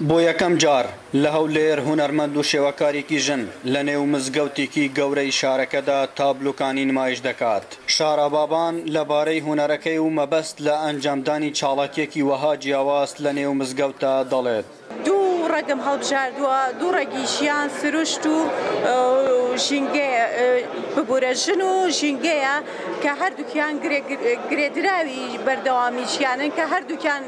بۆ یەکەم جار لە هەولێر هونەرمەند و شێوەکارێکی ژن لە نێو مزگەوتێکی گەورەی شارەکەدا تابلۆکانی نمایش دەکات. شارا بابان لە بارەی هونەرەکەی و مەبەست لە ئەنجامدانی چاڵاکیەکی وەها جیاواز لە نێو مزگەوتدا دەڵێت. دوو ڕەگم هەڵبژاردووە، دوو ڕەگی ژیان، سروشت و ژینگەیە، ببورە ژن و ژینگەیە کە هەردووکیان گرێدراوی بەردەوامی ژیانن کە هەردووکیان،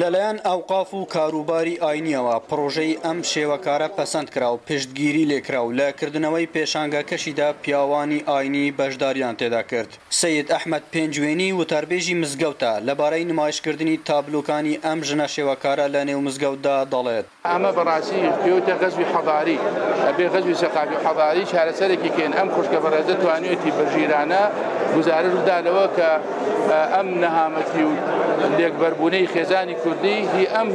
لەلایەن ئەوقاف و کاروباری ئاینییەوە پڕۆژەی ئەم شێوەکارە پەسەند کرا و پشتگیری لێ کرا و لە کردنەوەی پێشانگاکەشیدا پیاوانی ئاینی بەشدارییان تێدا کرد. سەید ئەحمەد پێنجوێنی وتاربێژی مزگەوتە، لەبارەی نمایشکردنی تابلۆکانی ئەم ژنە شێوەکارە لەنێو مزگەوتدا دەڵێت، ئەمە بەڕاستی پێوتە غەزوی حەضاری ئەبێ غەزوی سەقافی حەضاری چارەسەرێکی کەین ئەم خوشکە بەڕێزە توانیوێتی بەژیرانە گزارش بدا لەوە کە ئەم نەهامەتی و لێکبەربوونەی خێزانی کوردی هی ئەم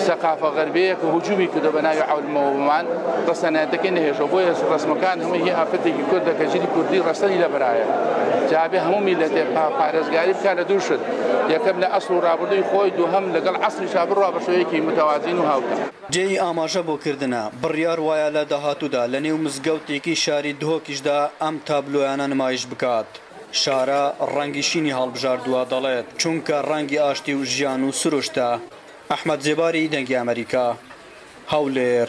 سەقافە غەربەیە کە هجومی کردە بە ناوی عولمەوەمان ڕسەنایەتەکەی نەهێشەوە بۆیە ڕسمەکان هەمووی هی ئافرەتێکی کوردە کە ژیری کوردی ڕسەنی لەبرایە جابێ هەموو میلەتێ پارێزگاری بکە لە دووشت یەکەم لە ئەسڵ و ڕابردووی خۆی دووهم لەگەڵ عسل شا بڕوا بە شێوەیەکی متەوازین و هاوتا. جێی ئاماژە بۆ کردنە، بڕیار وایە لە داهاتوودا لە نێو مزگەوتێکی شاری دهۆکیشدا ئەم تابلۆیانە نمایش بکات. شارە ڕەنگی شینی هەڵبژاردووە، دەڵێت، چونکە ڕەنگی ئاشتی و ژیان و سروشتە. ئەحمەد زێباری، دەنگی ئەمەریکا، هەولێر.